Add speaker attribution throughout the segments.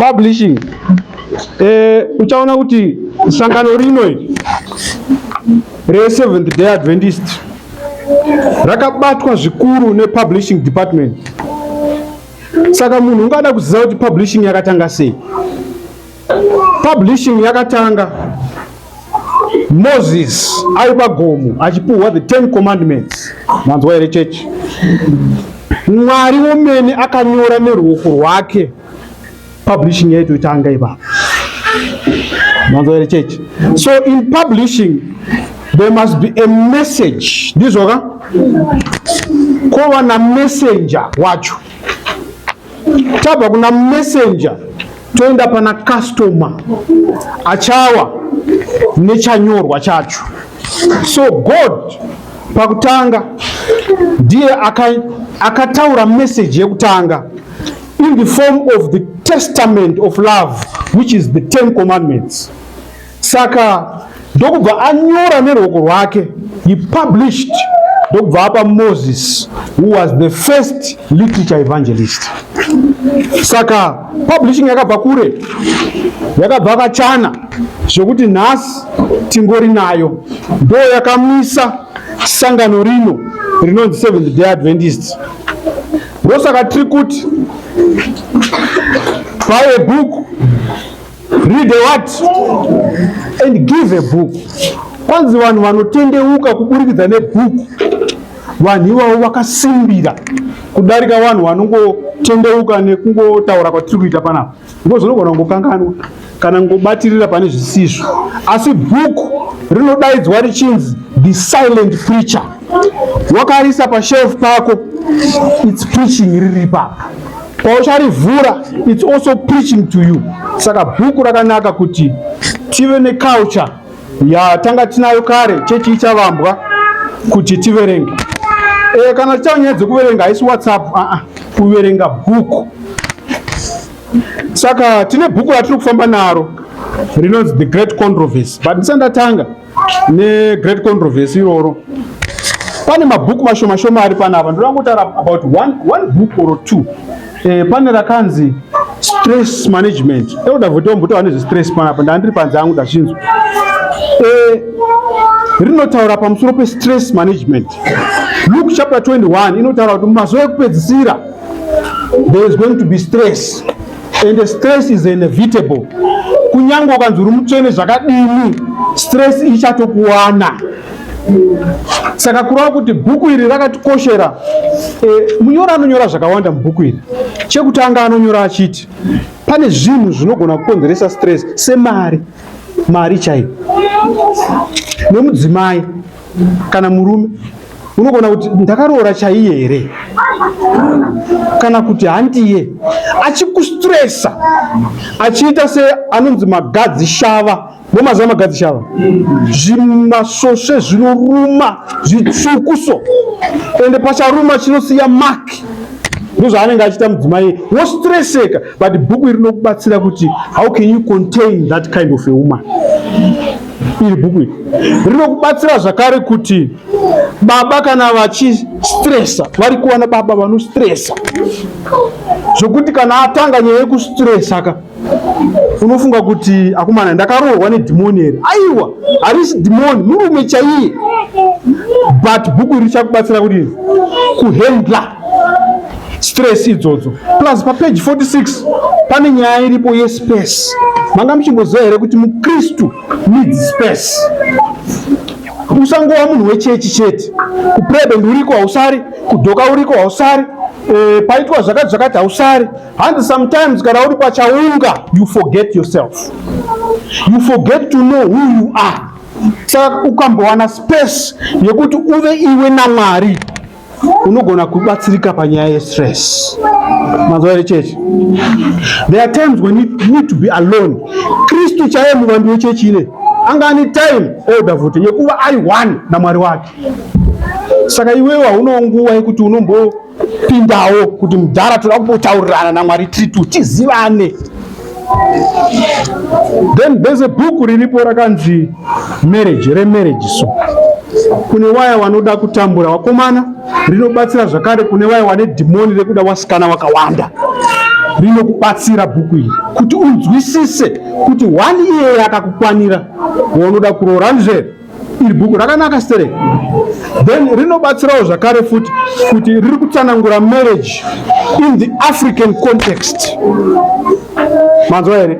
Speaker 1: publishing eh, uchaona kuti sangano rino reseventh day adventist rakabatwa zvikuru nepublishing department saka munhu ungada kuziva kuti publishing yakatanga sei Publishing yakatanga Moses ari pagomo achipuhwa the 10 commandments. Manzwa here chechi? Mwari womene akanyora neruoko rwake publishing yaitotanga ipapo. Manzwa here chechi? So in publishing there must be a message. Ndizvo ka? Kova na messenger wacho. Tabva kuna messenger toenda pana customer achawa nechanyorwa chacho so god pakutanga ndiye akataura aka message yekutanga in the form of the testament of love which is the ten commandments Saka ndokubva anyora nerwoko rwake, he published ndokubva apa Moses who was the first literature evangelist. Saka publishing yakabva kure, yakabva kachana zvekuti nhasi tingori nayo, ndo yakamisa sangano rino rinonzi Seventh Day Adventist. Ndosaka tiri kuti buy a book Read the what? And give a book. Kwanzi vanhu vanotendeuka kuburikidza nebhuku. Vanhu ivavo vakasimbira kudarika vanhu vanongotendeuka nekungotaura kwatiri kuita panapa. Ndipo zvinogona kungokanganwa kana ngobatirira pane zvisizvo. Asi bhuku rinodaidzwa richinzi the silent preacher. Wakarisa pashelf pako, it's preaching riri papa. paucharivhura its also preaching to you saka bhuku rakanaka kuti tive neculture yatanga tinayo kare chechi ichavambwa kuti tiverenge e, kana tichava nyaya dzekuverenga haisi whatsapp aa ah, ah, kuverenga bhuku saka tine bhuku ratiri kufamba naro rinonzi the great controversy but ndisandatanga negreat controversy iroro pane mabhuku mashoma shoma ari pana apa ndoda kutaura about one, one book or two eh, pane rakanzi stress management euda voti ombotaura nezvestress pana apa ndandiri panze angu ndachinzwa eh, rinotaura pamusoro pestress management luke chapter 21 inotaura kuti mumazuva ekupedzisira there is going to be stress and the stress is inevitable kunyange ukanzi uri mutsvene zvakadini stress ichatokuwana saka kureva kuti bhuku iri rakatikoshera e, munyori anonyora zvakawanda mubhuku iri chekutanga anonyora achiti pane zvinhu zvinogona kukonzeresa stress semari mari chaiyo nemudzimai kana murume unogona kuti ndakaroora chaiye here kana kuti handiye achikustresa achiita se anonzi magadzi shava momaziva magadzi shava zvimasvosve zvinoruma zvitsvukuso ende pacharuma chinosiya maki ndozvaanenge achiita mudzimai wostreseka but bhuku iri rinokubatsira kuti how can you contain that kind of a woman iri bhuku iri rinokubatsira zvakare kuti baba kana vachistresa vari kuwana baba vanostresa zvokuti kana atanga nyaya yekustresa ka unofunga kuti akomana ndakaroorwa nedhimoni here aiwa harisi dhimoni murume chaiye but bhuku iri richakubatsira kuti kuhendla stress idzodzo plus papage 46 pane nyaya iripo yespace manga muchimboziva here kuti mukristu needs space usangova munhu wechechi chete kuprebend uriko hausari kudhoka uriko hausari e, paitwa zvakati zvakati hausari hanzi sometimes kana uri pachaunga you forget yourself you forget to know who you are saka ukambowana space yekuti uve iwe namwari unogona kubatsirika panyaya yestress mazuva here chechi there are times when you need to be alone kristu chaiye muvambi wechechi ine anga ane time older futi yekuva ari one namwari wake saka iwewo haunawo nguva yekuti unombopindawo kuti mudhara toda kumbotaurirana namwari tiri tu tizivane Then there's a book riripo rakanzi marriage remarriage so kune waya wanoda kutambura wakomana rinobatsira zvakare kune waya wane dhimoni rekuda wasikana wakawanda rinokubatsira bhuku iri kuti unzwisise kuti wani iyeye akakukwanira waunoda kuroora ndizvere iri bhuku rakanaka stere then rinobatsirawo zvakare futi kuti riri kutsanangura marriage in the african context manzwa here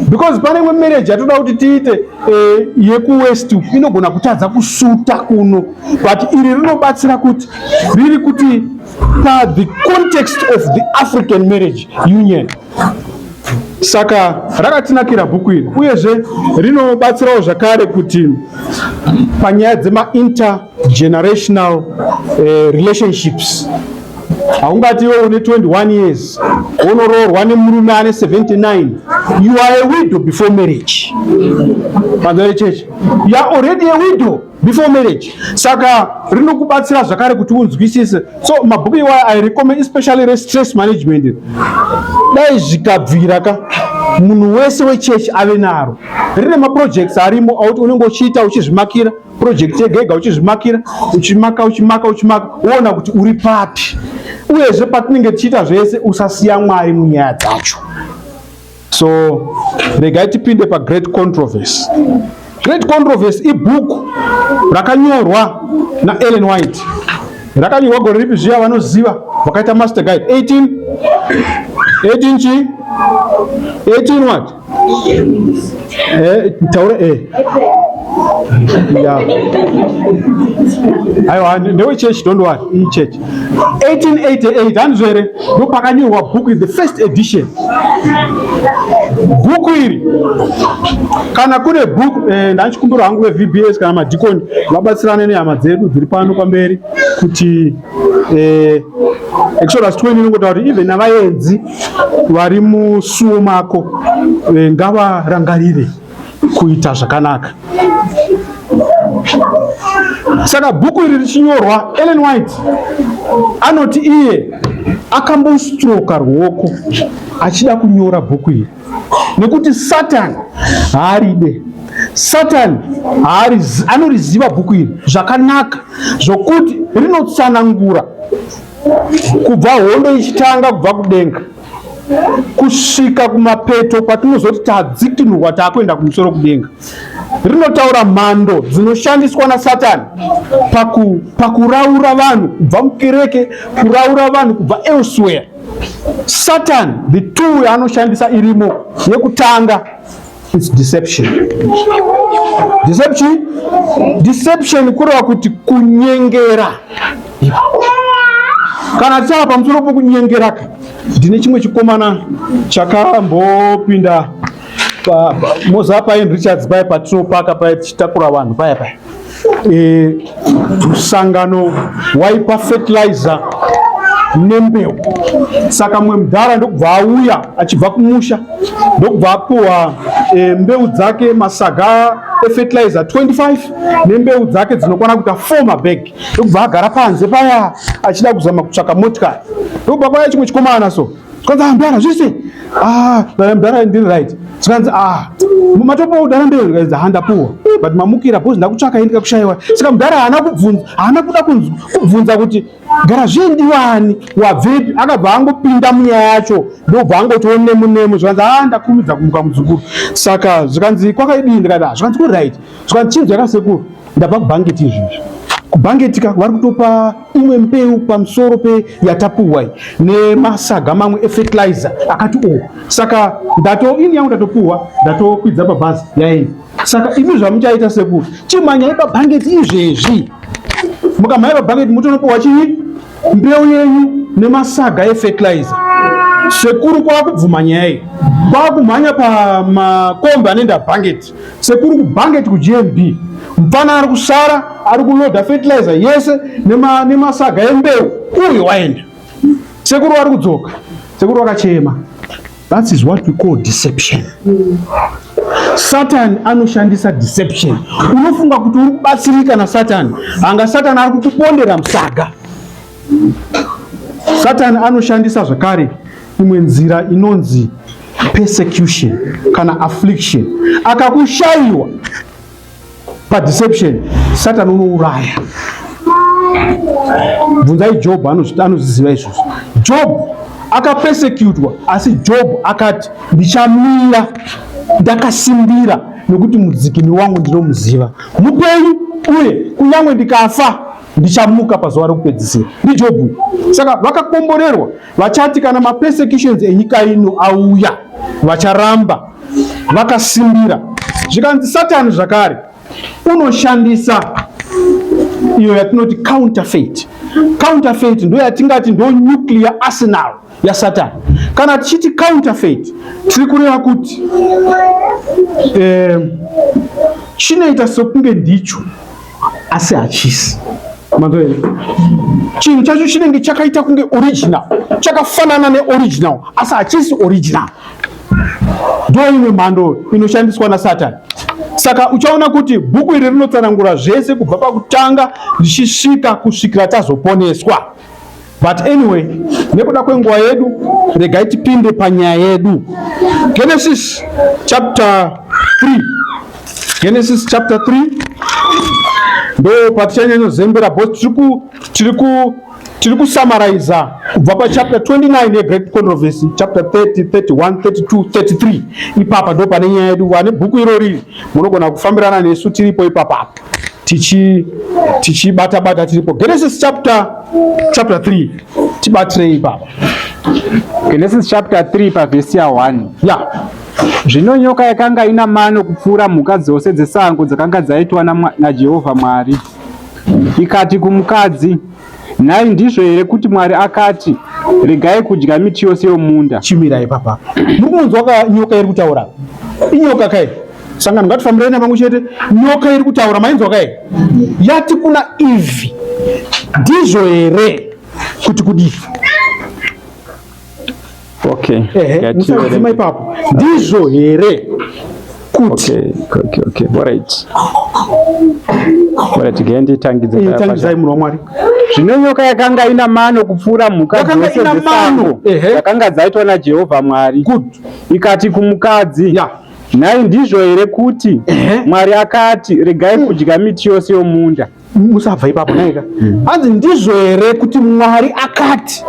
Speaker 1: because pane imwe marriage yatoda kuti tiite eh, yekuwest inogona kutadza kusuta kuno but iri rinobatsira kuti riri kuti pa the context of the african marriage union saka rakatinakira bhuku iri uyezve rinobatsirawo zvakare kuti panyaya dzemaintergenerational eh, relationships haungati iwe une 21 years wonoroorwa nemurume ane 79 you are a widow before marriage panzare cheche you are already a widow before marriage saka rinokubatsira zvakare kuti unzwisise so mabhuku iwayo i recommend especially restress management dai zvikabvira ka munhu wese wechechi ave naro rine maprojects arimo auti unenge uchiita uchizvimakira project yegega uchizvimakira uchimaka uchimaka uchimaka woona kuti uri papi uyezve patinenge tichiita zvese usasiya mwari munyaya dzacho So regai tipinde pa Great Controversy. Great Controversy ibhuku rakanyorwa na Ellen White. Rakanyorwa gore ripi zviya vanoziva vakaita master guide 18 18 chi 18 what? Eh, taure eh. Yeah. Aiwa, ndewe church, don't worry, church. 1888 handizo here ndopakanyorwa bhuku iri the first edition bhuku iri kana kune bhuku eh, ndachikumbira hangu vevbs kana madhikoni vabatsirane nehama dzedu dziri pano pamberi kuti eh, exodus 20 inongotaura kuti even navaenzi vari musuwo mako eh, ngavarangarire kuita zvakanaka. Saka bhuku iri richinyorwa, Ellen White anoti iye akambostroka ruoko achida kunyora bhuku iri nekuti Satani haaride Satani anoriziva bhuku iri zvakanaka zvokuti rinotsanangura kubva hondo ichitanga kubva kudenga kusvika kumapeto kwatinozoti tadzikinurwa taakuenda kumusoro kudenga rinotaura mhando dzinoshandiswa nasatani paku, pakuraura vanhu kubva mukereke kuraura vanhu kubva elsewhere satan the tool yaanoshandisa irimo yekutanga It's deception. Deception? Deception kureva kuti kunyengera. Kana tichava pamusoro pokunyengera ka ndine chimwe chikomana chakambopinda Mozambique Richards paya patinopaka paya tichitakura vanhu paya paya e, msangano waipa fertilizer nembeu saka mwe mdhara ndokubva auya achibva kumusha ndokubva apuwa e, mbeu dzake masaga efertilizer 25 nembeu dzake dzinokwana kuita 4 mabag ndokubva agara panze paya achida kuzama kutsvaka motikari ndokubva kwaya chimwe chikomana so zvikanzi ah mdara zvese ah dai mdara ndiri right zvikanzi ah matopa udara mberi zvikanzi ah ndapuwa but mamukira bhozi ndakutsvaka ini ndikakushaiwa saka mdara haana kubvunza haana kuda kubvunza kuti gara zvindiwani wabvepi akabva angopinda munyaya yacho ndobva angotiwo nemu nemu zvikanzi ah ndakumidza kumuka mudzukuru saka zvikanzi kwakaidii ndikati ah zvikanzi ku right Saka chinzwa ka sekuru ndabva kubhangeti izvizvi. Kubhangeti ka vari kutopa imwe mbeu pamusoro pe yatapuwa nemasaga mamwe efertilizer akati o. Oh. Saka ndato ini yangu ndatopuwa ndatokwidza pabhazi yaenda. Saka imi zvamuchaita sekuru chimhanyai pabhangeti izvezvi. Mukamhanya pabhangeti mutonopuwa chii mbeu yenyu nemasaga efertilizer. Sekuru kwakubvuma nyaya iyi kwakumhanya pamakombi anoenda bhangeti. Sekuru kubhange tiku GMB. Mpana ari kusara ari kuloda fertilizer yese nema nemasaga embeu. Uyo waenda. Sekuru ari kudzoka. Sekuru akachema. That is what we call deception. Mm. Satan anoshandisa deception. Unofunga kuti uri kubatsirika na Satan. Anga Satan ari kukupondera msaga. Satani anoshandisa zvakare imwe nzira inonzi persecution kana affliction. Akakushaiwa padeception, Satani unouraya. Bvunzai Job, anozviziva izvozvo. Job akapesekutwa asi job akati ndichamira ndakasimbira nokuti mudzikini wangu ndinomuziva mupenyu uye kunyange ndikafa ndichamuka pazuva rokupedzisira ndijobhu saka vakakomborerwa vachati kana mapersecutions enyika ino auya vacharamba vakasimbira zvikanzi satani zvakare unoshandisa iyo yatinoti counterfeit counterfeit ndo yatingati ndo nuclear arsenal yasatani kana tichiti counterfeit tiri kureva kuti eh, chinoita sokunge ndicho asi hachisi chinhu chacho chinenge chakaita kunge original chakafanana neoriginal asi hachisi original ndo imwe mhando inoshandiswa nasatani saka uchaona kuti bhuku iri rinotsanangura zvese kubva pakutanga richisvika kusvikira tazoponeswa But anyway, nekuda kwenguva yedu regai tipinde panyaya yedu. Genesis chapter 3. Genesis chapter 3 ndo patichanyanya zembera bo tiri ku tiri kusamaraiza kubva pachapter 29 yegreat controversy chapter 30 31 32 33 ipapa ndo pane nyaya yedu vane bhuku irori munogona kufambirana nesu tiripo ipapa apo tichi tichibata bata tiripo Genesis chapter chapter 3 tibatirei baba
Speaker 2: Genesis chapter 3 pa verse ya 1 ya
Speaker 1: zvino
Speaker 2: nyoka yakanga ina mano kupfuura mhuka dzose dzesango dzakanga dzaitwa naJehovha Mwari ikati kumukadzi Nhai ndizvo here kuti Mwari akati regai kudya miti yose yomunda? Chimira ipapa.
Speaker 1: Muri kunonzwa ka nyoka iri kutaura? Inyoka kai? Sangano ngatifambirei navangu chete. Nyoka iri kutaura mainzwa kai? Yati kuna Eve. Ndizvo here kuti kudii?
Speaker 2: Okay. Ehe, musadzima
Speaker 1: ipapo. Ndizvo here? Kuti. Okay, okay, okay.
Speaker 2: All right. All right, gendi tangidze. Eh, tangidze munhu wa
Speaker 1: Mwari. Zvino nyoka
Speaker 2: yakanga ina mano kupfuura mhuka dzose dzesango. Ehe. Yakanga dzaitwa na Jehovah Mwari. Good. Ikati kumukadzi. Yeah. Nhai ndizvo here kuti Mwari akati regai kudya miti yose yomunda? musabva ipapo
Speaker 1: naika hmm. hanzi ndizvo here kuti mwari akati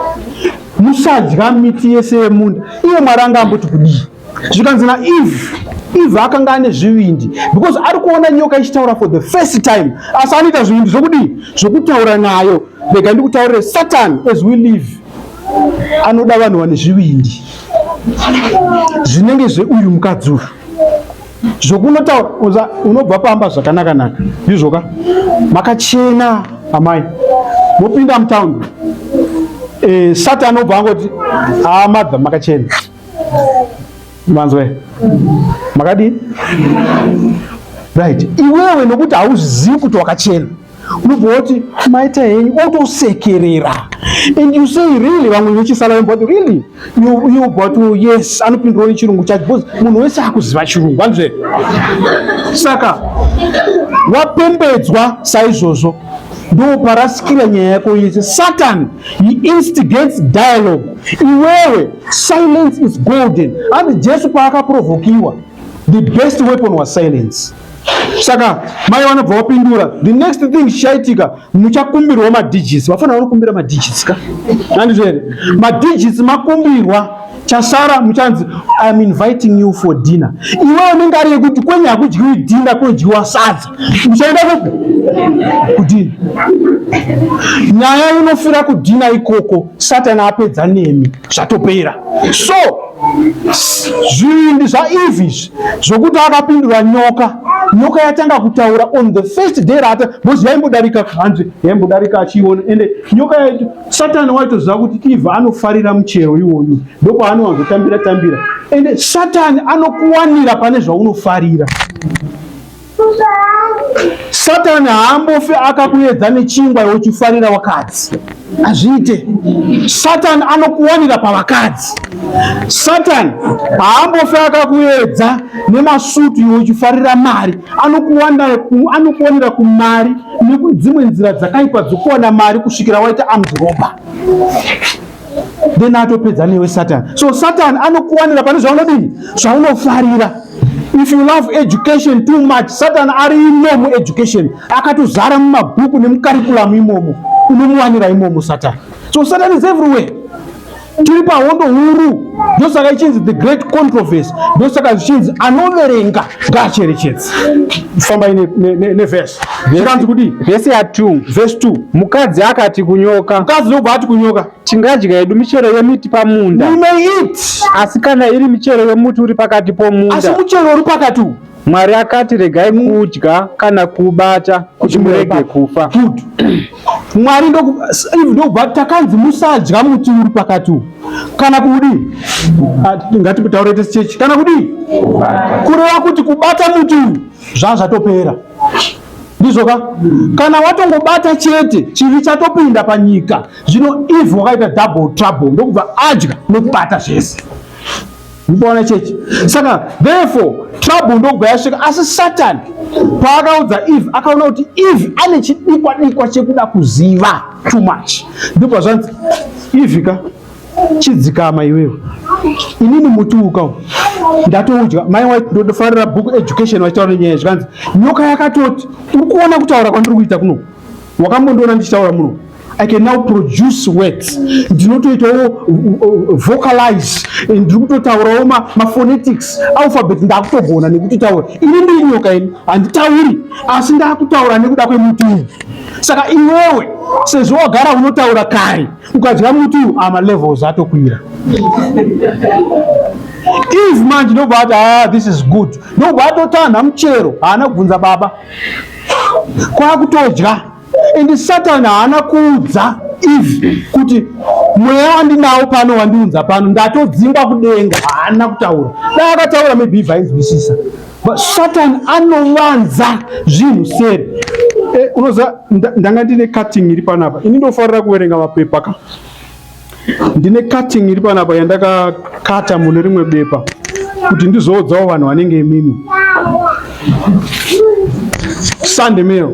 Speaker 1: musadya miti yese yemunda iye mwari anga amboti kudii zvikanzi na eve eve akanga ane zvivindi because ari kuona nyoka ichitaura for the first time asi anoita zvivindi zvokudii zvokutaura nayo rega ndikutaurire satan as we live anoda vanhu vane zvivindi zvinenge zveuyu mukadzi uyu zvokunotaura unobva pamba zvakanaka naka ndizvoka makachena amai mopinda mutaundi e, eh, sati anobva angoti haa ah, madha makachena manzwe makadii right iwewe nokuti hauzvizivi kuti wakachena unobva woti maita henyu otosekerera and you say really vamwe vechisala but really you, you but oh, yes anopindura nechirungu chacho because munhu wese akuziva chirungu hanzve saka wapembedzwa saizvozvo ndoparasikira nyaya yako yese satan he instigates dialogue iwewe silence is golden and jesu paakaprovokiwa the best weapon was silence saka mai vanobva vapindura the next thing chichaitika muchakumbirwa madigits vafana vanokumbira madigits ka andizvo here madigits makumbirwa chasara muchanzi iam inviting you for dinner iwe unenge ari yekuti kwenye hakudyiwi dinner kunodyiwa sadza muchaenda kupi kudina nyaya inofira kudina ikoko satani apedza nemi zvatopera so zvivindi zvaevi izvi zvokuti akapindura nyoka nyoka yatanga kutaura on the first day rata bcoz yaimbodarika hanzi yaimbodarika achiiona ende nyoka yaito satani waitoziva kuti eve anofarira muchero iwoyu ndopaanowanzotambira tambira ende satani anokuwanira pane zvaunofarira Satani haambofi akakuedza nechingwa iwe uchifarira wakadzi, hazviite. Satani anokuwanira pavakadzi. Satani haambofi akakuedza nemasutu iwe uchifarira mari, anokuwanira kumari nekudzimwe nzira dzakaipa dzokuwana mari kusvikira waita amdhiroba. then atopedza newe satan so satan anokuwanira pane zvaunodini zvaunofarira if you love education too much satan ari imo mueducation akatozara mumabhuku nemukarikulamu imomo unomuwanira imomo satan so satan is everywhere tiri pahondo huru ndosaka ichinzi the great controversy ndosaka zvichinzi anoverenga ngaacherechedze fambai nevese ne, ne, ne zvikanzi kudii vhesi ya 2
Speaker 2: vhesi 2 mukadzi
Speaker 1: akati
Speaker 2: kunyoka mukadzi ndokubva ati kunyoka
Speaker 1: tingadya yedu michero
Speaker 2: yemiti pamunda we may eat
Speaker 1: asi kana iri
Speaker 2: michero yemuti uri pakati pomunda asi muchero uri pakati
Speaker 1: uwu mwari akati
Speaker 2: regai mm. kudya kana kubata kuti murege kufa good
Speaker 1: mwari ndokubva takanzi musadya muti uri pakati uwu kana kudii ngatitaure tese chechi kana kudii kureva kuti kubata muti uyu zvaa zvatopera ndizvo ka kana watongobata chete chivi chatopinda panyika zvino if wakaita double trouble ndokubva adya nekubata zvese muboona chechi saka therefore trouble ndokubva yasvika asi satani paakaudza eve akaona kuti eve ane chidikwa dikwa chekuda kuziva too much ndokubva zvanzi eve ka chidzikama iwewe inini muti uka ndatoudya mai waiti ndofarira book education vachitaura nenyaya yezvikanzi nyoka yakatoti uri kuona kutaura kwandiri kuita kuno wakambondiona ndichitaura muno i can now produce words ndinotoitawo vocalize ndiri kutotaurawo maphonetics alphabet ndakutogona nekutitaura ini ndiri nyoka ini handitauri asi ndakutaura nekuda kwemuti uyu saka iwewe sezvo wagara unotaura kare ukadya muti uyu ah, malevels atokwira if manje ndobva ati ah, this is good ndobva atotanha muchero haana kubvunza baba kwakutodya and satan haana kuudza if kuti mweya wandinawo pano wandiunza pano ndatodzingwa kudenga haana kutaura dai akataura maybe vainzwisisa Satan anovanza zvinhu seri. Eh, unoza ndanga ndine cutting iri panapa. Ini ndofarira kuverenga mapepa ka. Ndine cutting iri panapa yandakakata mune rimwe bepa kuti ndizoudzawo vanhu vanenge imimi. Sunday mail.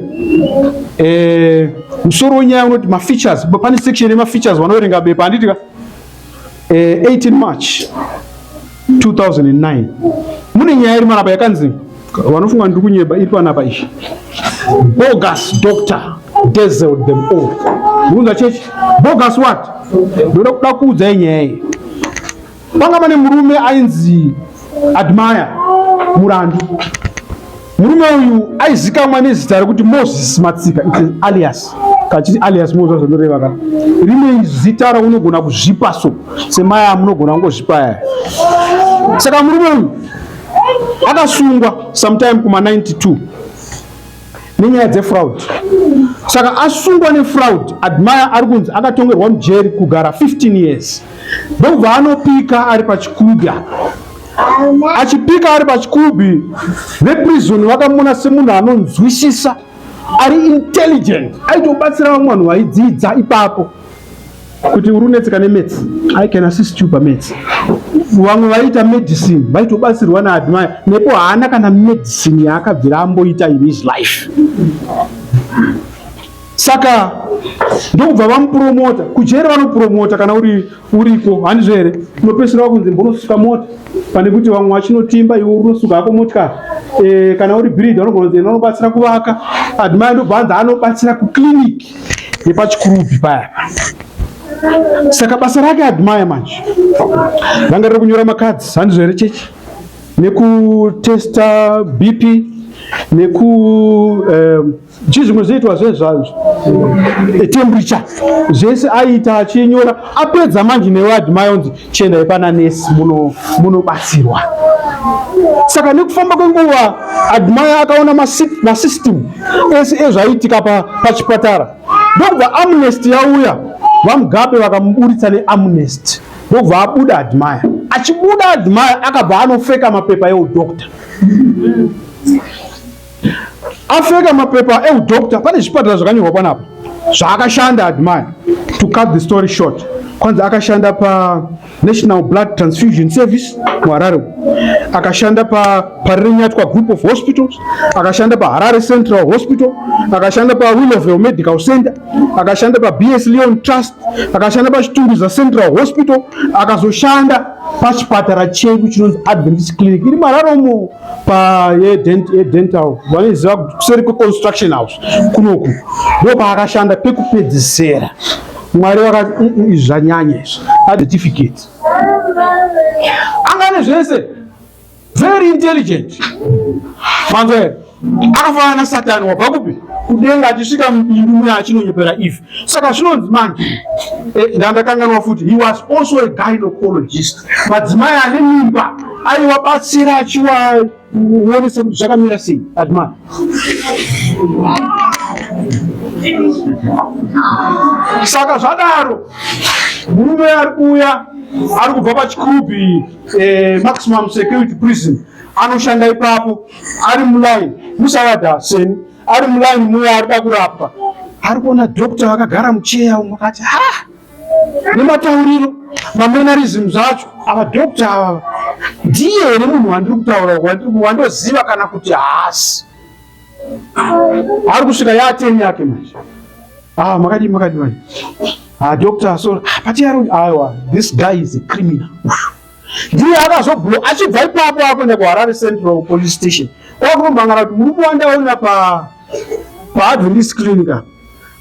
Speaker 1: Eh, musoro wenyaya unoti mafeatures. Pane section yemafeatures wanoverenga bepa handiti ka? eh, 18 March 2009 mune nyaya iri panapa yakanzi vanofunga ndiri kunyeba iri panapa izvi bogus doctor dazzled them all mukunza chechi bogus what ndoda kuda kuudzai nyaya iyi panga pane murume ainzi admire murandu Murume uyu aizikamwa nezita rekuti Moses Matsika alias kachiti alias Moses zvazvinoreva ka rine zita raunogona kuzvipa so semaya munogona kungozvipa yaya saka murume uyu akasungwa sometime kuma 92 nenyaya dzefraud saka asungwa nefraud admire ari kunzi akatongerwa mujeri kugara 15 years ndokubva anopika ari pachikuga achipika ari pachikubi veprison vakamuona semunhu anonzwisisa ari intelligent aitobatsira vamwe vanhu vaidzidza ipapo kuti uri unetseka nemetsi i can assist you pametsi vamwe vaiita medicine vaitobatsirwa naadmire nepo haana kana medicine yaakabvira amboita in his life saka ndokubva vamupromota kujeri vanopromota kana uri uriko handizvo here unopesera wakunzi mbonosuka mota pane kuti vamwe vachinotimba iwe unosuka hako motikari e, eh, kana uri brid vanogona kunzi ena anobatsira kuvaka admai ndobva anzi anobatsira kuclinic yepachikurubi paya saka basa rake admai manje ranga riri kunyora makadzi handizvo here chechi nekutesta bp neku um, chii zvimwe zviitwa zve zvazvo temperature zvese aiita achinyora apedza manje newadi mayonzi chiendai pana nesi munobatsirwa saka nekufamba kwenguva admaya akaona masystem ese ezvaiitika pachipatara ndokubva amnest yauya vamugabe vakamuburitsa neamnest ndokubva abuda admaya achibuda admaya akabva anofeka mapepa eudoctor Afeka mapepa eudoctor pane zvipatara zvakanyorwa panapa zvaakashanda admire to cut the story short kwanzi akashanda pa national blood transfusion service muharare akashanda pa parirenyatwa group of hospitals akashanda pa harare central hospital akashanda pa willowville medical center akashanda pa bs leon trust akashanda pa chitunduza central hospital akazoshanda pachipatara chedu chinonzi adventist clinic iri muharare umo pa yedental vanoiziva kuseri kweconstruction house kunoku ndo paakashanda pekupedzisera mwari vakati mm, mm, izvi zvanyanya izvi acertificate angane zvese very intelligent manzwere akafanana na satani wabva kupi kudenga achisvika mubindu muya achinonyepera ife saka zvinonzi manje eh, ndandakanganwa futi he was also a gynocologist madzimai ane mimba Aiwa batsira achiwa uonese kuti zvakamira sei adma saka zvadaro murume ari kuuya ari kubva pachikubi eh, maximum security prison anoshanda ipapo ari mulaini musavada seni ari mulaini muya ari da kurapwa ari kuona doctor vakagara mucheya umwe akati ha nematauriro mamenarism zvacho ava doctor ava ndiye here munhu wandiri kutaura wandoziva kana kuti haasi ari kusvika yaateni yake manje ah, makadii makadii manje ah, doctor so ah, patiaro aiwa this guy is a criminal ndiye akazoblo achibva ipapo akuenda kuharare central police station kwakunombangana kuti murume wandaona pa paadventist clinic apa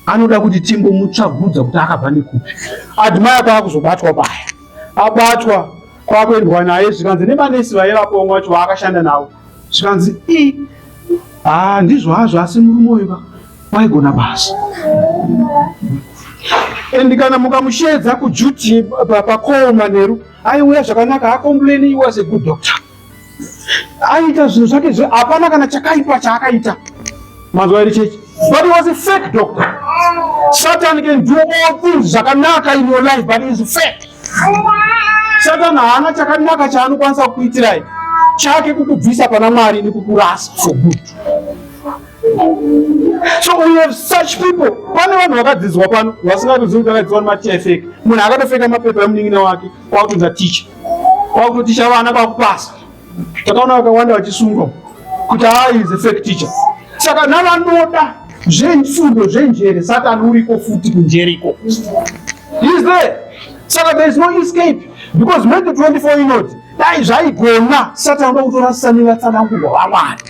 Speaker 1: anoda kuti timbomutsvagudza kuti akabva nekupi admire kwaakuzobatwa paya abatwa kwakuendwa naye zvikanzi nemanesi vaye vakomwa wacho vaakashanda navo zvikanzi i haa ndizvo hazvo asi murume uyu ka waigona basa and kana mukamushedza kujuti pakoo manheru aiuya zvakanaka akomplaini was a good doctor Aita zvinhu zvake zve hapana kana chakaipa chaakaita. Manzwa here chechi? But he was a fake doctor. Satan can do all things zvakanaka in your life but he is fake. Satan haana chakanaka chaanokwanisa kukuitirai. Chake kukubvisa pana Mwari nekukurasa for good. So we have such people. Pane vanhu vakadzidzwa pano vasingatozivi kuti vakadzidzwa nemati efeke. Munhu akatofeka mapepa emunin'ina wake. kwakutotaticha kwakutotaticha vana kwakupasa takaona vakawanda vachisungwa kuti haa is a fake teacher saka navanoda zvefundo zvenjere satani uriko futi kunjeriko is there saka there is no escape because mende 24 inoti dai zvaigona satani vakutorasisa nevatsanangurwa vamwari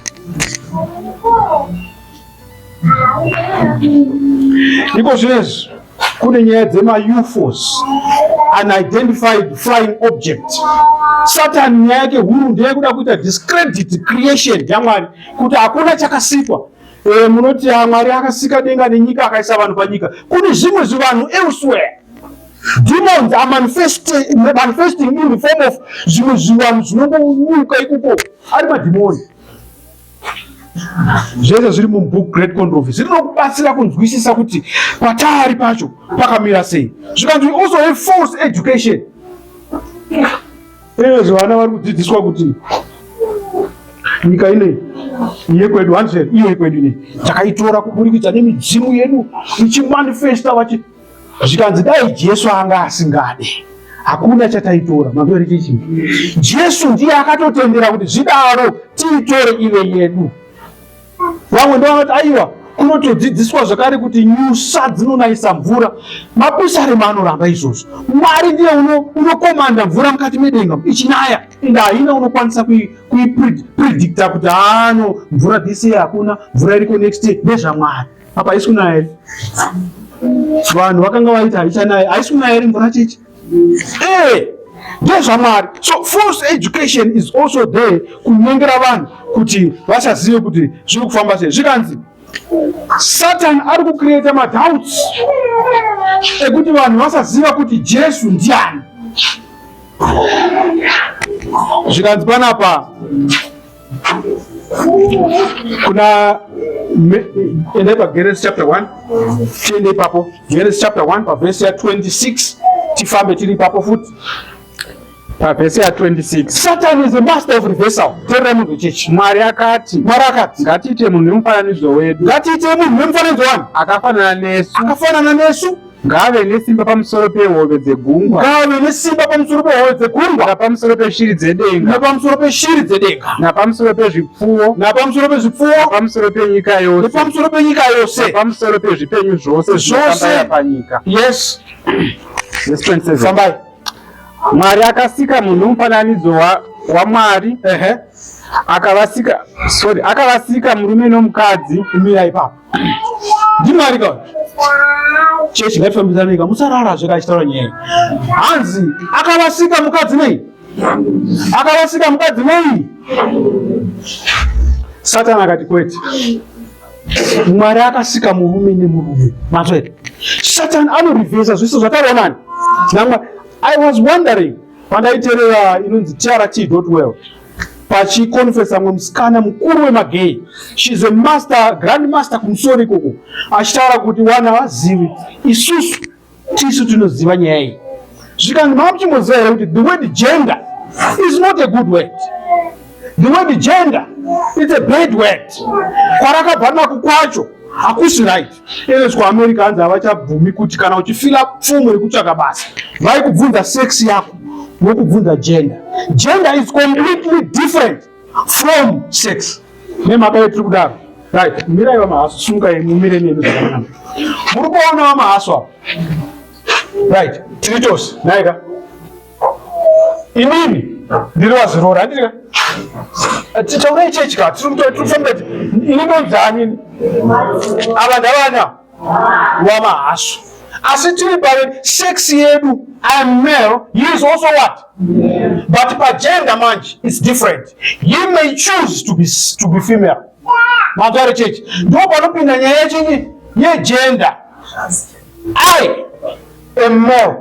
Speaker 1: Iko zvinezvi kune nyaya dzemaUFOs unidentified flying object satan nyaya yake huru ndeyekuda kuita discredit creation yamwari kuti hakuna chakasikwa e, munoti ah, mwari akasika denga nenyika akaisa vanhu panyika kune zvimwe zvivanhu elsewhere demons are manifesting, manifesting in the form of zvimwe zvivanhu zvinongonyuka ikoko ari madhimoni zvese zviri mubook great controversy rinokubatsira kunzwisisa kuti pataari pacho pakamira sei zvikanzi also a false education eezve vana vari kudzidziswa kuti nyika inei yekwedu hanzi iyo yekwedu inei takaitora kuburikidza nemidzimu yedu ichimanifesta vachi Zvikanzi dai Jesu anga asingade hakuna chataitora matore chichi. Jesu ndiye akatotendera kuti zvidaro tiitore ive yedu. Vamwe ndovanoti aiwa kunotodzidziswa zvakare kuti nyusa dzinonayisa mvura mapisarema anoramba izvozvo mwari ndiye unokomanda mvura mukati medenga ichinaya ende haina unokwanisa kuipredicta kuti haano mvura this year hakuna mvura iriko next year ndezvamwari apa haisi kunaya iri vanhu vakanga vaita haichanaya haisi kunaya iri mvura chichi ee eh! ndezvamwari so false education is also there kunyengera vanhu kuti vasazive kuti zviri kufamba sei zvikanzi satan ari kucreata madoubts ekuti vanhu vasaziva kuti jesu ndiani zvikanzi panapa kuna endai pageresi chapter 1 tiende ipapo geresi chapter 1 pavhesi ya 26 tifambe tiri ipapo futi pavhesi ya 26 satan is the master of reversal terera munhu wechechi mwari akati mwari akati ngatiite munhu wemufananidzo wedu ngatiite munhu wemufananidzo wani akafanana nesu akafanana nesu Ngaave
Speaker 2: nesimba pamusoro pehove dzegungwa. Ngaave nesimba
Speaker 1: pamusoro pehove dzegungwa. Napamusoro peshiri
Speaker 2: dzedenga. Napamusoro peshiri
Speaker 1: dzedenga. Napamusoro pezvipfuwo.
Speaker 2: Napamusoro pezvipfuwo.
Speaker 1: Napamusoro penyika
Speaker 2: yose. Napamusoro penyika yose.
Speaker 1: Napamusoro pezvipenyu
Speaker 2: zvose. Zvose. Panyika.
Speaker 1: Yes. Yes, 27.
Speaker 2: Sambai.
Speaker 1: Mwari
Speaker 2: akasika munhu mufananidzo wa waMwari. Ehe. Uh -huh. Akavasika, sorry, akavasika murume nomukadzi. Mira ipapo.
Speaker 1: ndimwari ka chechi ngatifambidzanei ka musarara zveka achitaura nyaya hanzi akavasika mukadzi nei akavasika mukadzi nei satani akati kwete mwari akasika murume nemurume matso here satani anorivhesa zviso zvataonani namwa i was wondering pandaiterera inonzi trt well pachikonfesa mwe musikana mukuru wemagay she's a master grand master kumusoro ikoko achitaura kuti wana vazivi isusu tisu tinoziva nyaya iyi zvikanzi maakuchimboziva here kuti the word gender is not a good word the word gender is a bad word kwarakabva nako kwacho hakusi right Ende kuAmerica hanzi havachabvumi kuti kana uchifila pfumo yekutsvaka basa vaikubvunza sex yako vokubvunza gender. Gender is completely different from sex. Nemhaka yetiri kudaro right, mirai vamahaso sunga yemu mire nemi zvakanaka. Muri kuona vamahaso apa right, tiri tose naika inini ndiri wazorora handiti ka tichaura ichechi ka tirikufamba ini ndonzani ava ndavana wamahaswa asi tiri pave sex yedu am male he is also what yeah. but pagender manje its different he may choose to be, to be female matare chechi ndo panopinda nyaya yechinyi yegender i am male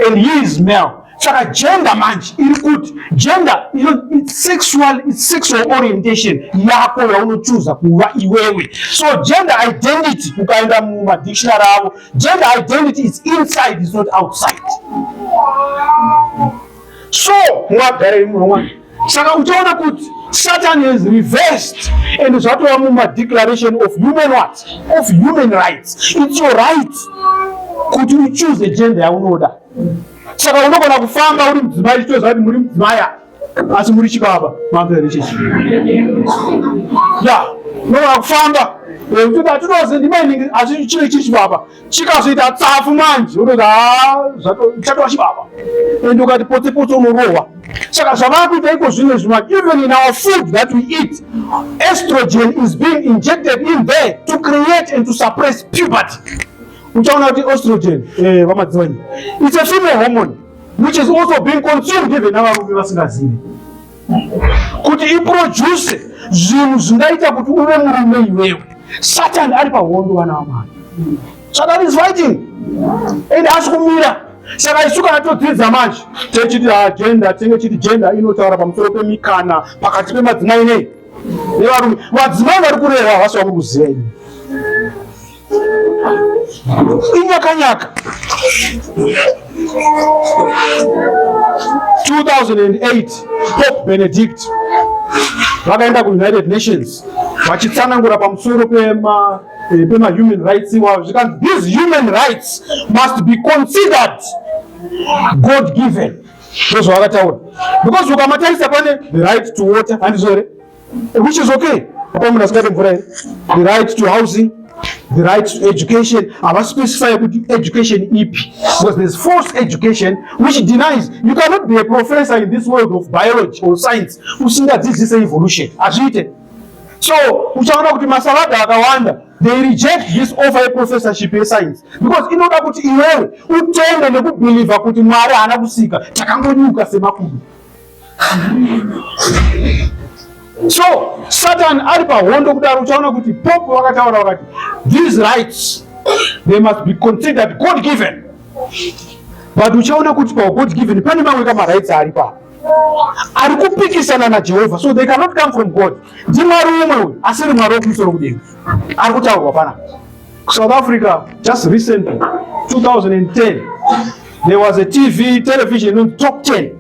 Speaker 1: and he is male saka gender manje iri kuti gender ino it's sexual, it's sexual orientation yako yaunochuza kuva iwewe so gender identity ukaenda mumadictionary avo gender identity is inside is not outside so mwagare imwe wani Saka uchaona kuti Satan has reversed and zvatova muma declaration of human what? Of human rights. It's your right kuti uchoose gender yaunoda. Saka unogona kufamba uri mudzimai chito zvati muri mudzimai asi muri chibaba mamvere chechi. Ya, unogona kufamba kuti atinozi ndimai asi chiri chibaba. chikazoita tsafu manje unoti ah, zvatova chibaba and ukati potse potse unorohwa saka zvavava kuita iko zvino izvi manje even in our food that we eat estrogen is being injected in there to create and to suppress puberty uchaona kuti estrogen eh, vamadzivanyi it's a female hormone which is also being consumed even navarume vasingazivi kuti iproduce zvinhu zvingaita kuti uve murume iwewe satan ari pahondo vana vamwari satan is fighting and asi kumira saka isu kana todzidza manje techiti agenda ah, tenge chiti gender inotaura pamusoro pemikana pakati pemadzimai nei nevarume vadzimai vari kureva havasi vakuri kuziva ini inyakanyaka 2008 pope benedict vakaenda kuunited nations vachitsanangura pamusoro pema eh, pema human rights iwavo zvikanzi these human rights must be considered god given ndozvavakataura because ukamatarisa pane the right to water handizvo here which is okay apa munhu asingade mvura here the right to housing the right to education havaspecify kuti education ipi because there's forced education which denies you cannot be a professor in this world of biology or science usingadzidzise evolution hazviite so uchaona kuti masalada akawanda they reject this offer yeprofessorship yescience because inoda kuti iwewe utende nekubhilivha kuti mwari haana kusika takangonyuka semakudu so satan ari pahondo kudaro uchaona kuti pope vakataura vakati these rights they must be considered god given but uchaona kuti pagod given pane mamwe kamarights ari pa ari kupikisana najehovha so they cannot come from god ndimwari umwe uyu asiri mwari wekumusoro kudenga ari kutaurwa pana south africa just recently 2010 there was a tv television inonzi top 10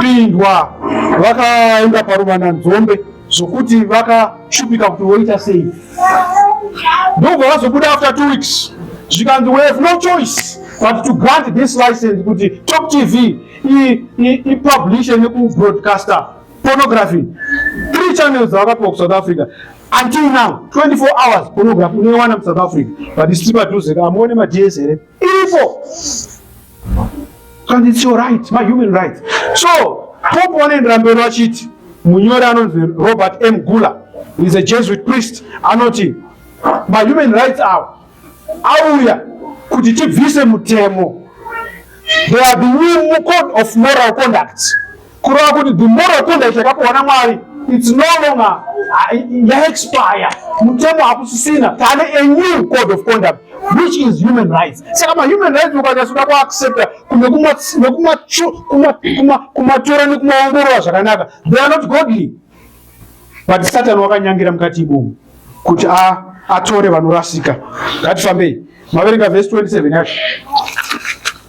Speaker 1: pindwa vakaenda paruvana nzombe zvokuti vakashupika kuti voita sei ndobva vazobuda after two weeks zvikanzi we have no choice but to grant this license kuti top tv ipublishe nekubroadcaster pornography three channels dzavakapiwa kusouth africa until now 24 hours pornography unoiwana musouth africa but isipadhuze ka amuone madss here iripo and it's your right my human rights so pope wanoendera mberi vachiti munyori anonzi robert m gula is a jesuit priest anoti my human rights awo auya kuti tibvise mutemo there will be new code of moral conduct kureva kuti the moral conduct yakapiwa namwari its no longer yaexpire mutemo hakusisina tane a new code of conduct which is human rights saka mahuman rights ukanyatsoda kuaccepta kumwe kumatora nekumaongorora zvakanaka they are not godly but satan wakanyangira mukati imomo kuti atore vanorasika ngatifambei maverenga vhesi 27 yacho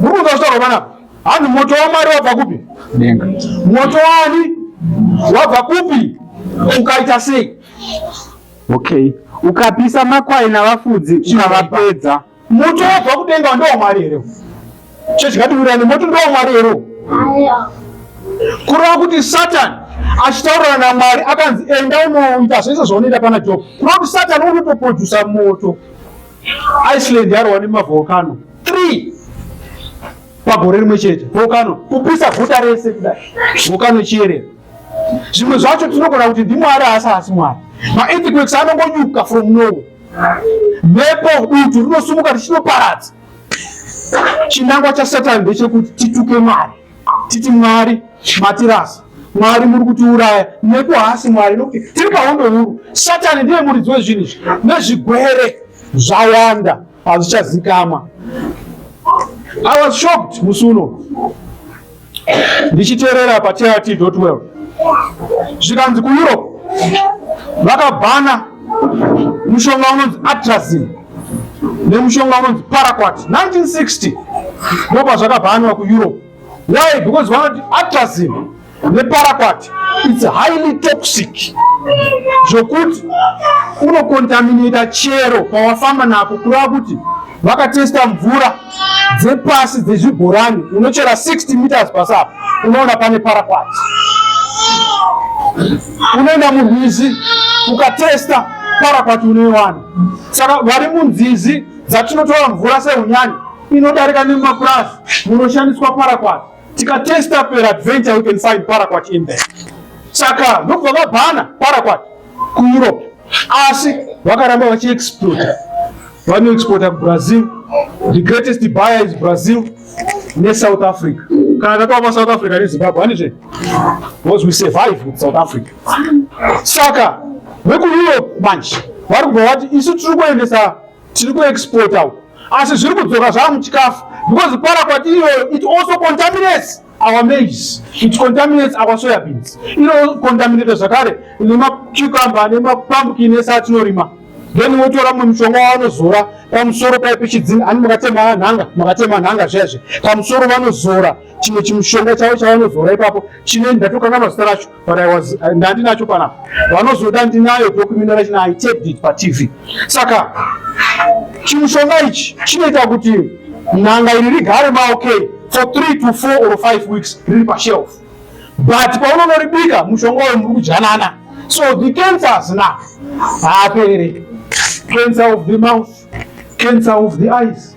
Speaker 1: Muri kunzwa zvitaurwa panapa? Hanzi moto waMwari wabva kupi? Denga.
Speaker 2: Moto wani
Speaker 1: wabva kupi? Ukaita sei? Okay.
Speaker 2: Ukapisa makwai navafudzi ukavapedza. Moto wabva
Speaker 1: kudenga ndiwo Mwari here? Chezvikativurani moto ndiwo Mwari here? Kureva kuti Satani achitaurana namwari akanzi enda unoita zvese zvaunoita pana job kureva kuti satani unotoprodusa moto Iceland yarwa nemavolcano 3 pagore rimwe chete volcano kupisa guta rese kudai volcano chiyerera zvimwe zvacho tinogona kuti ndimwari asi asi mwari maearthquakes anongonyuka from nowhere mhepo dutu rinosumuka richinoparadza chinangwa chasatani ndechekuti tituke mwari titi mwari matirasa mwari muri kutiuraya nepo haasi mwari nokuti tiri pahondo huru satani ndiye muridzi wezvinhu izvi nezvigwere zvawanda hazvichazikamwa i was shocked musi uno ndichiteerera patrt well zvikanzi kueurope vakabhana mushonga unonzi atrazine nemushonga unonzi paraquat 1960 ndopa zvakabhanwa kueurope why because vanoti atrazin neparaquat its highly toxic zvokuti unokontaminata chero pawafamba napo kureva kuti vakatesta mvura dzepasi dzezvibhorani unochera 60 meters pasapa unoona pane paraquat unoenda murwizi ukatesta paraquat unoiwana saka vari munzizi dzatinotora mvura sehunyani inodarika nemumapurazi munoshandiswa paraquat tikatesta peradventure we can find paraquat in there saka ndokubva vabhana paraquat kueurope asi vakaramba vachiexporta vanoexporta kubrazil the greatest buyer is brazil nesouth africa kana tatova south africa nezimbabwe hanizve because we survive with south africa saka vekueurope manje vari kubva vati isu tiri kuendesa tiri kuexporta uku asi zviri kudzoka zvava muchikafu because para kwati iyoyo it also contaminates our maize it contaminates our soya beans inocontaminata zvakare nemacucumber nemapumpkin ese atinorima then wotora mumwe mushonga wavanozora pamusoro pai pechidzini ani makatema nhanga makatema nhanga zviyazve pamusoro vanozora chimwe chimushonga chavo chavanozora ipapo chine ndatokanganwa zita racho but I was uh, ndandinacho pana vanozoda ndinayo document rachini I taped it pa TV saka chimushonga ichi chinoita kuti nanga iri rigare ma okay for 3 to 4 or 5 weeks riri pa shelf but paunonoribika mushonga uyu muri kujanana so the cancers na haapere cancer of the mouth cancer of the eyes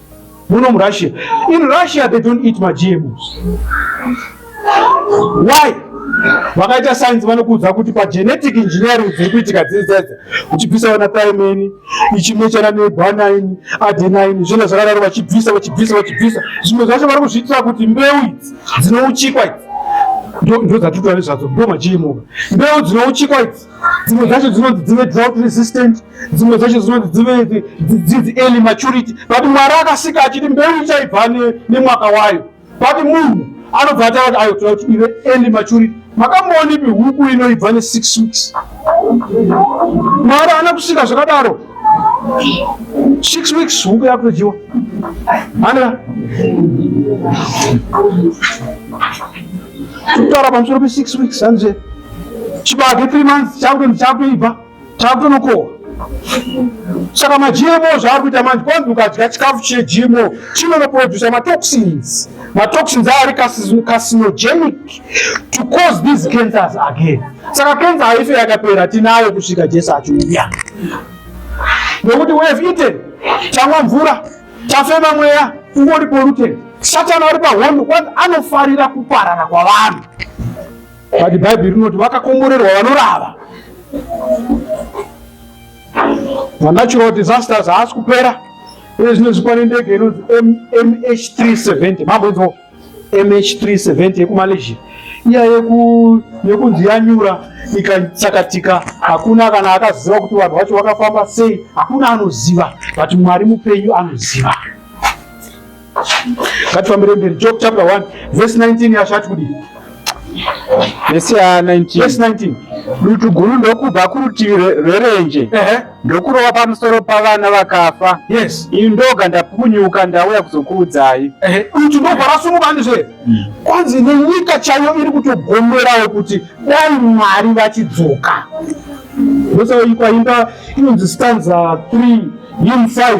Speaker 1: muno murussia in russia they don't eat magmos why vakaita sainzi vanokuudza kuti pagenetic engineering dziri kuitika dziri dzedze uchibvisa vana thymeni ichimwe chana nebanini adenini zvino zvakadaro vachibvisa vachibvisa vachibvisa zvimwe zvacho vari kuzviitira kuti mbeu idzi dzinouchikwa idzi ndozvatitwari zvadzo ndo magmo mbeu dzinouchikwa idzi dzimwe dzacho dzinonzi dzive drought resistant dzimwe dzacho dzinonzi dzive dzidzi early maturity but mwari akasika achiti mbeu ichaibva nemwaka wayo but munhu anobva ati ati ayo toda kuti ive early maturity makamboonipi huku inoibva nesix weeks mwari ana kusika zvakadaro six weeks huku yakutodyiwa mana kutaura pamusoro pesix weeks hanzi chibage three months chakutonzi chakutoibva chakutonokohwa saka magmo zvaari kuita manje kwanzi ukadya chikafu chegmo chinonoproducer matoxins matoxins aari carcinogenic to cause these cancers again saka cancer haife yakapera tinayo kusvika jesu achiuya nokuti we have eaten chanwa mvura chafema mweya ungori polluted satani ari pahondo kwanzi anofarira kuparana kwavanhu but bhaibheri rinoti vakakomborerwa vanorava manatural disasters haasi kupera uye zvino zvipanendege inonzi mh 370 mamboinzwa MH370 yekuMalaysia iya yeku yekunzi yanyura ikatsakatika hakuna kana akaziva kuti vanhu vacho vakafamba sei hakuna anoziva but mwari mupenyu anoziva ngatifambire mberi job chapter 1 verse 19 yashati kudii
Speaker 2: vesi ya 19 dutu guru
Speaker 1: ndokubva
Speaker 2: kurutivi rwerenje ndokurova pamusoro pavana vakafa yes iyi ndoga ndapunyuka ndauya kuzokuudzai dutu ndobva
Speaker 1: rasumuka ndizve mm. kwanzi nenyika chaiyo iri kutogomerawo kuti dai mwari vachidzoka ndosaikwa imba inonzi stanza 3 him 5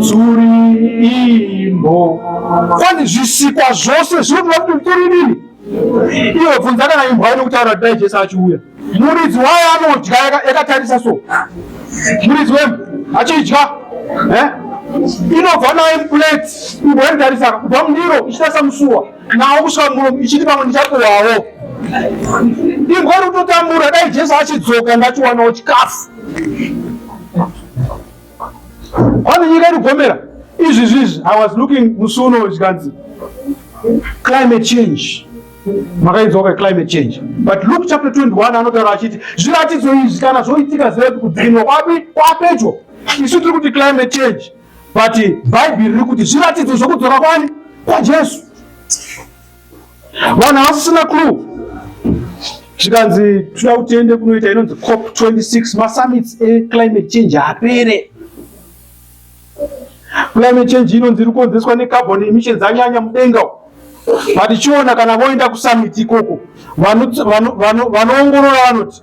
Speaker 1: Tsuri imbo. Kwani zvisikwa zvose zvinoda kuti tsuri nini? Iwe bvunza kana imbwa ine kutaura kuti dai Jesu achiuya. Muridzi wayo anodya yakatarisa so. Muridzi wembo achidya. Eh? Inobva naye muplate, imbwa inotarisa kubva mundiro ichitarisa musuwa. Nawo kusvika muromo ichiti pamwe ndichapuwawo. Imbwa iri kutotambura dai Jesu achidzoka ngachiwanawo chikafu. Kwani nyika iri gomera izvi zvizvi I was looking musi uno zvikanzi climate change makainzwa ka climate change but Luke chapter 21 anotaura achiti zviratidzo izvi kana zvoitika zvedu kudzinwa kwapi kwapedyo isu tiri kuti climate change but bhaibheri riri kuti zviratidzo zvokudzora kwani kwajesu vanhu havasisina clue zvikanzi toda kuti tiende kunoita inonzi cop 26 masummits eclimate change apere climate change inonzi iri kukonzeswa necarbon emissions anyanya mudenga vatichiona kana voenda kusummit ikoko vanoongorora vanoti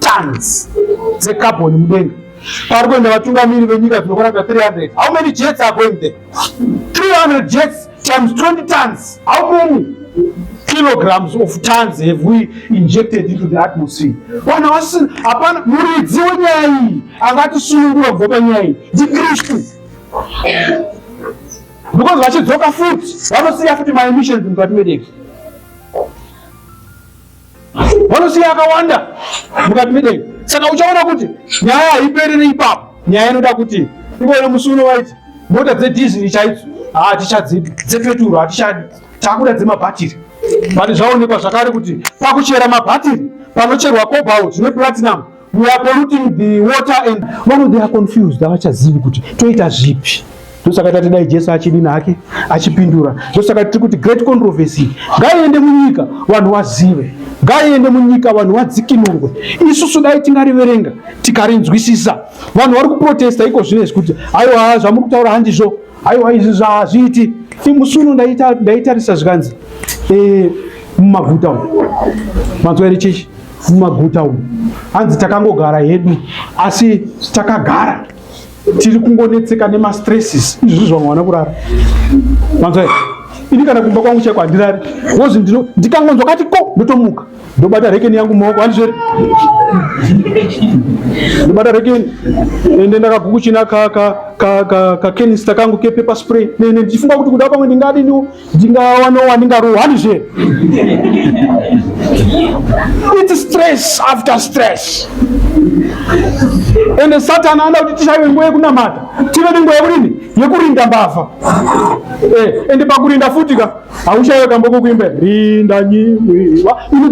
Speaker 1: tons dzecarbon mudenga pari kuenda vatungamiri venyika dzinokwana ka 300 how many jets are going there 300 jets times 20 tons how many kilograms of tons have we injected into the atmosphere vanhu vasina hapana muridzi wenyaya iyi angatisunungura kubva panyaya iyi ndikristu because vachidzoka futi vanosiya futi maemissions mukati medeki vanosiya akawanda mukati medenga. Saka uchaona kuti nyaya haiperere ipapo, nyaya inoda kuti iwona musi uno waiti mota dzedhiziri chaidzo hatichadzidi, dzepeturu hatichadi, takuda dzemabhatiri. Pane zvaonekwa zvakare kuti pakuchera mabhatiri panocherwa cobalt neplatinum we are polluting the water and vamwe they are confused havachazivi kuti toita zvipi ndosaka tati dai jesu achidini hake achipindura ndosaka tiri kuti great controversy ngaiende munyika vanhu vazive ngaiende munyika vanhu vadzikinurwe isusu dai tingariverenga tikarinzwisisa vanhu vari kuprotesta iko zvino izvi kuti aiwa zvamuri kutaura handizvo Aiwa izvi zvaazviiti imusuno ndaitarisa zvikanzi eh, mumaguta umu manzwa iri chichi mumaguta umu hanzi takangogara hedu asi takagara tiri kungonetseka nemastresses izvi zvamwana kurara manzwa ini kana kumba kwangu chaiko handirari wozi ndikangonzwa kati ko ndotomuka ndobata rekeni yangu mumaoko andizveri ndobata rekeni ende ndakagukuchina kakenista kangu kepepa spray nene ndichifunga kuti kuda pamwe ndingadiniwo ndingawanowa ndingarohwa andizveri its stress after stress ende satani anoda kuti tishaiwe nguva yekunamata tive nenguva yekudini yekurinda mbavha eh, ende pakurinda futi ka Haushaiwe kambo kokuimba rinda nyiwa uri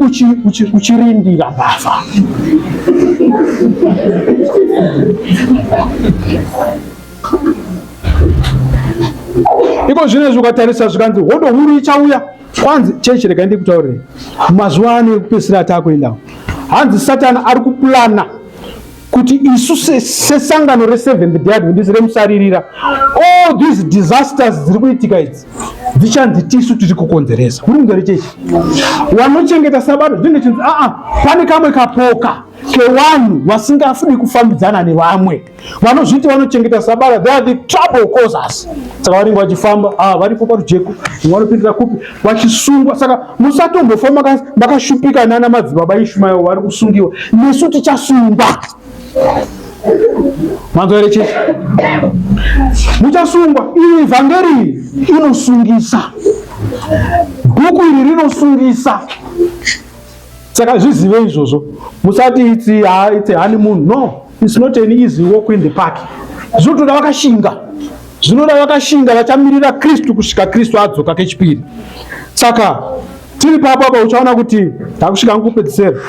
Speaker 1: uchirindira mbavha. Iko zvino izvi ukatarisa zvikanzi hodo huru ichauya kwanzi chechi rega ndikutaurire mazuva ano ekupesera ataakuendawo hanzi satani ari kuplana kuti isu sesangano reseventh day adventist remusaririra all these disasters dziri kuitika idzi dzichanzi tisu tiri kukonzeresa kuri kunzwa rechechi wanochengeta sabato zvinenge chinzi aa pane kamwe kapoka kevanhu vasingafuni kufambidzana nevamwe vanozviti vanochengeta sabata they are the trouble causers saka vanenge vachifamba ah, varipo parujeko vanopindira kupi vachisungwa saka musatombofa makashupika nana madzibaba ishumayo vari kusungiwa nesu tichasungwa manzwa here chete muchasungwa iri evhangeri inosungisa bhuku iri rinosungisa saka zvizive izvozvo musati itsi ha itsi hani munhu no It's not an easy walk in the park. Zvinotoda vakashinga, zvinoda vakashinga vachamirira Kristu kusvika Kristu adzoka kechipiri. Saka tiri papo apa uchaona kuti takusvika ngokupedzisera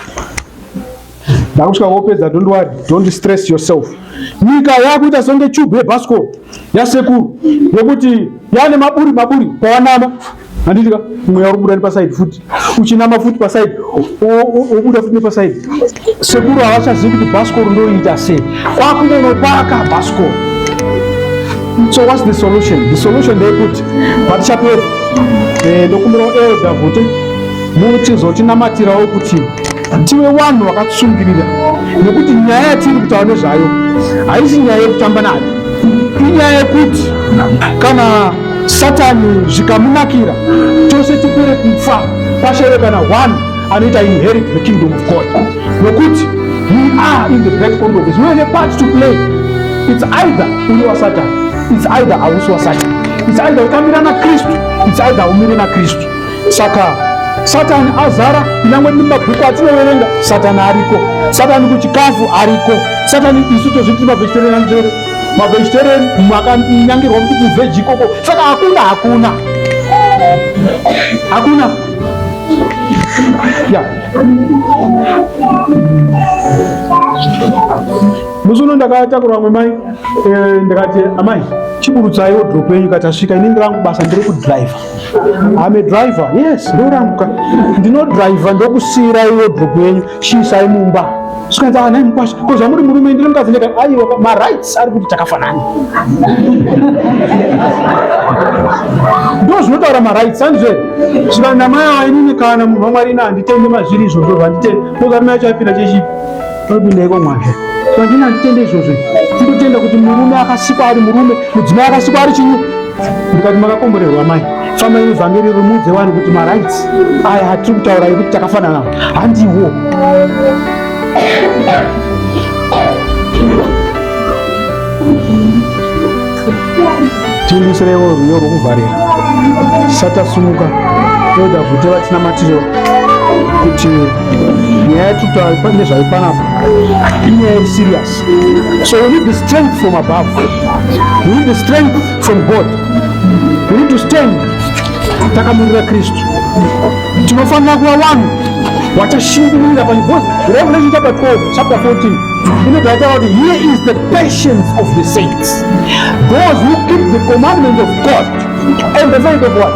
Speaker 1: ndakusvika wopedza don't worry don't stress yourself nyika yakuita songe chubhu yebhasikoro yasekuru yokuti yane maburi maburi pawanama handiti ka mweya uri kubuda nepasaidi futi uchinama futi pasaidi wobuda futi nepasaidi sekuru havachazivi kuti bhasikoro ndoiita sei kwakunonopaka bhasikoro so whats the solution the solution ndeyekuti patichapera eh, ndokumbirawo elda kuti muchizotinamatirawo kuti tive vanhu vakatsungirira nekuti nyaya yatiri kutaura nezvayo haisi nyaya yekutamba nayo inyaya yekuti kana Satani zvikamunakira tose tipere kufa pashave kana one anoita inherit the kingdom of God nokuti we are in the great controversy we have a part to play it's either uri wasatan it's either hausi wasatan it's either ukamira nakristu it's either umire nakristu saka satani azara kunyangwe nemabhuku atinoverenga satani ariko satani kuchikafu ariko satani isu tozviti mavhesiterera njere mavegetarian makanyangirwa kuti kuveji ikoko saka hakuna hakuna hakuna ya musi uno ndakatakurwa vamwe mai eh, ndikati amai chiburutsai wodrop yenyu kati asvika ini ndirangu basa ndiri kudriver ame driver yes ndoranguka ndinodriver ndokusiirai wodrop yenyu Shisai mumba zvikanzi ah, nhai mukwasha ko zvamuri murume ndiri mukadzi ndeka aiwa marights ari kuti takafanana ndo zvinotaura marights anzve zvikanzi namai ava inini kana munhu wamwari ina handitende mazviri izvozvo zvanditende ndokarime yacho apinda chechi topindaiko mwazvo zvandina handitende izvozvo ndotenda kuti murume akasikwa ari murume mudzimai akasikwa ari chinyi mukati makakomborerwa mai famba ine vhangeri rimuudze vanhu kuti marights aya hatiri kutaura yekuti takafanana handiwo timbisirewo rwiyo rwokuvharira satasumuka toda kuti vatina matiro kuti nyaya yatutaura nezvayo panapa inyaya iri serious So we need the strength from above. We need the strength from God. We need to stand takamurira Kristu. Tinofanira kuva vanhu vachashingirira pani because Revelation chapter 12 chapter 14 inobva yataura kuti here is the patience of the saints those who keep the commandments of God and the faith of what?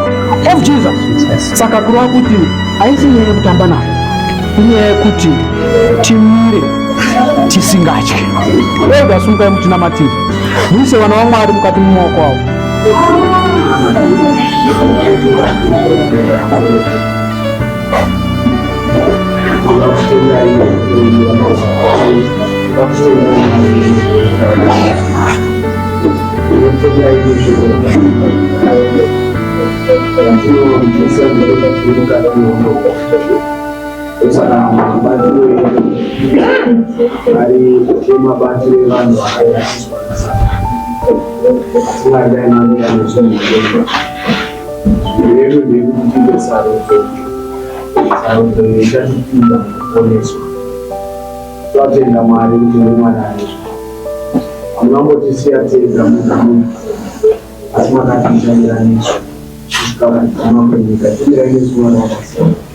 Speaker 1: Of Jesus. Saka kureva kuti haisi nyaya yekutamba nayo inyaya yekuti timire tisingatye ega sungai mutinamatiri muise vana vamwari mukati mumaoko avo Thank you.
Speaker 3: Saka mabatiro edu ari mabatiro evanhu vakairasiswa asingadai mamira nezvinhudenga zvirevo ndekutipe sarudzo sarudzo ichatipinda kuponeswa twatenda mwari kuti nemwana aizvo munangotisiya tega mugamu asi makatiita miraniswa kusvika vanhu vamakunyika timirai nezuva rakasiyana